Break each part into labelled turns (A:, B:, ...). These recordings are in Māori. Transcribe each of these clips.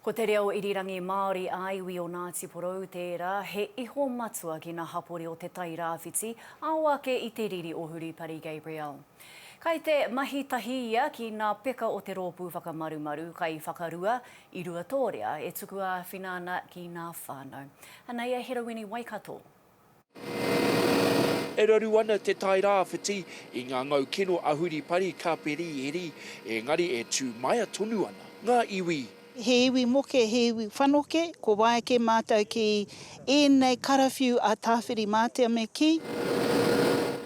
A: Ko te reo irirangi Māori ā-iwi o Ngāti Porou tērā, he iho matua ki ngā hapori o Te Tai Rāwhiti, ao ake i te riri o Huripari Gabriel. Kai te mahi tahi ia ki ngā peka o te Rōpū Whakamarumaru kai whakarua i Ruatōrea e tuku āwhina ana ki ngā whānau. Anei a Herowini Waikato.
B: E raru ana te tai rāwhiti i ngā ngau kino a Huripari ka periheri, engari e tū maea tonu ana ngā iwi. He iwi moke,
C: he iwi whanoke, ko wai kē mātou ki ēnei karawhiu a Tāwhiri-mātea me kī?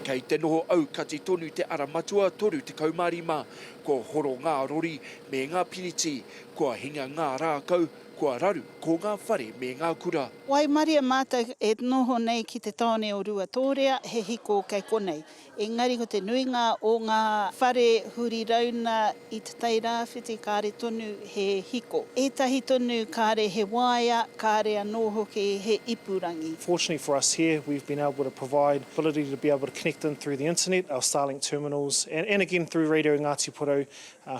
B: Kei te noho aukati tonu te ara matua 35, kua horo ngā rori me ngā piriti, kua hinga ngā rākau, kua raru ko ngā whare me ngā kura. Waimarie mātou
C: e noho nei ki te tāone o Ruatōrea, he hiko kei konei. Engari ko te nuinga o ngā whare huri rauna i Te Tai Rāwhiti kāre tonu he hiko. Ētahi tonu kāre he waea, kāre anō hoki he ipurangi. Fortunately for us here,
D: we've been able to provide the ability to be able to connect in through the internet, our Starlink terminals, and and again through Radio Ngāti Porou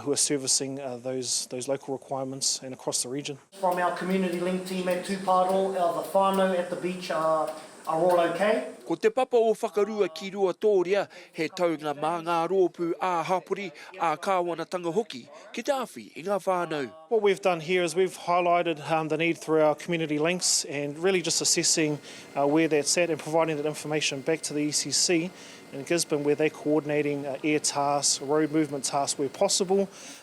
D: who are servicing those those local requirements and across the region. From our community
E: link team at Tūpārō, our The Whānau at the beach are all okay. Ko Te Papa o
B: Whakarua ki Ruatōria he taunga mā ngā rōpū ā-hapori, ā-kāwanatanga hoki ki te awhi i ngā whānau. What we've done here is
D: we've highlighted the need through our community links and really just assessing where that's at and providing that information back to the ECC in Gisborne where they're coordinating air tasks, road movement tasks where possible.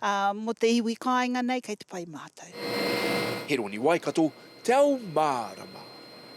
C: Ā, mō te iwi kāinga nei kei te pai
B: mātou. Heroni Waikato, Te Ao Mārama.